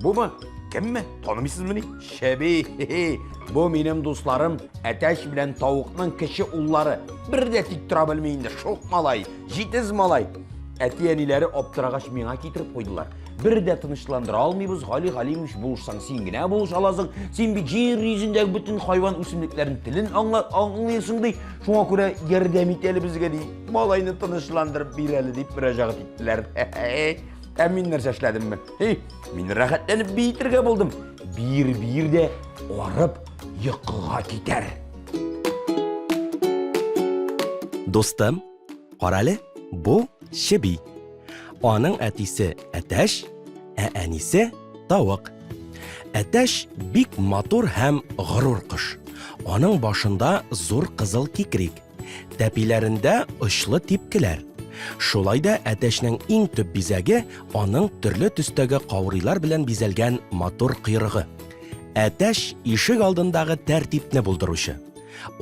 Бумы? Кемме? Танымыйсызмыни? Шәби, бу минем дусларым Әтәч белән тавыкның кече уллары. Бер дә тик тора белми инде, шук малай, җитез малай. Әти-әниләре аптырагач миңа китереп куйдылар. Бер дә тынычландыра алмыйбыз, Гали Галимович булышсаң, син генә булыш аласың. Син бит җир йөзендәге бөтен хайван үсемлекләрен телен аңлыйсың ди. Шуңа күрә ярдәм ит әле безгә ди. Малайны тынычландырып бир әле дип мөрәҗәгать иттеләр. Ә мин нәрсә эшләдемме? Эй, мин рәхәтләнеп биетергә булдым. Бир-бир дә арып йокыга китәр. Дустым, карале, бу чеби. Аның әтисе әтәш, ә әнисе тавык. Әтәш бик матур һәм горур кош. Аның башында зур кызыл кикрик, Тәпиләрендә очлы типкеләр. Шулай да әтәчнең иң төп бизәге аның төрле төстәге каурыйлар белән бизәлгән матур койрыгы. Әтәч ишек алдындагы тәртипне булдыручы.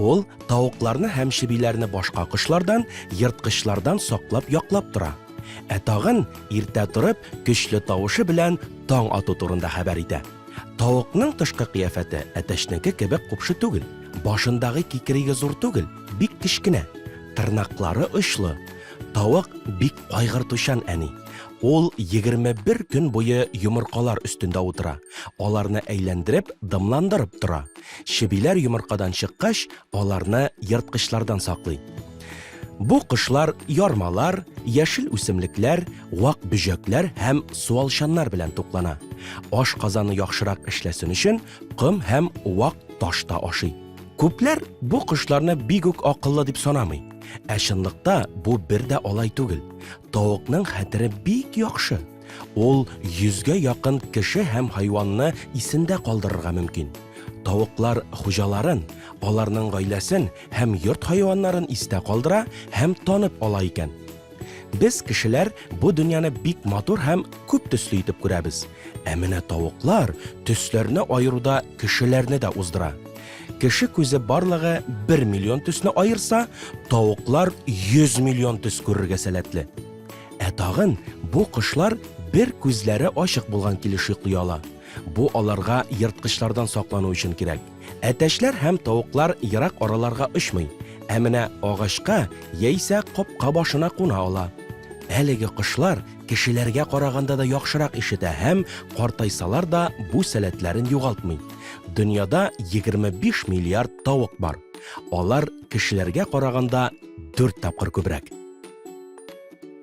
Ул тавыкларны һәм чебиләрне башка кошлардан, ерткычлардан саклап яклап тора. Ә тагын иртә торып, көчле тавышы белән таң ату турында хәбәр итә. Тавыкның тышкы кыяфәте әтәчнеке кебек купшы түгел. Башындагы кикриге зур түгел, бик кечкенә, тырнаклары очлы. Тавык бик кайгыртучан әни. Ул 21 көн буе йомыркалар өстендә утыра. Аларны әйләндереп, дымландырып тора. Чебиләр йомыркадан чыккач, аларны ерткычлардан саклый. Бу кошлар ярмалар, яшел үсемлекләр, вак бөҗәкләр һәм суалчаннар белән туклана. Аш казаны яхшырак эшләсен өчен, ком һәм вак таш та ашый. Күпләр бу кошларны бик үк акыллы дип санамый. Ә чынлыкта бу бер дә алай түгел. Тавыкның хәтере бик яхшы. Ул йөзгә якын кеше һәм хайванны исендә калдырырга мөмкин. Тавыклар хуҗаларын, аларның гаиләсен һәм йорт хайваннарын истә калдыра һәм танып ала икән. Без, кешеләр, бу дөньяны бик матур һәм күп төсле итеп күрәбез. Ә менә тавыклар төсләрне аеруда кешеләрне дә уздыра. Кеше күзе барлыгы бер миллион төсне аерса, тавыклар 100 миллион төс күрергә сәләтле. Ә тагын бу кошлар бер күзләре ачык булган килеш йоклый ала. Бу аларга ерткычлардан саклану өчен кирәк. Әтәчләр һәм тавыклар ерак араларга очмый, ә менә агачка яисә капка башына куна ала. Әлеге кошлар кешеләргә караганда да яхшырак ишетә һәм, картайсалар да, бу сәләтләрен югалтмый. Дөньяда 25 миллиард тавык бар. Алар кешеләргә караганда дүрт тапкыр күбрәк.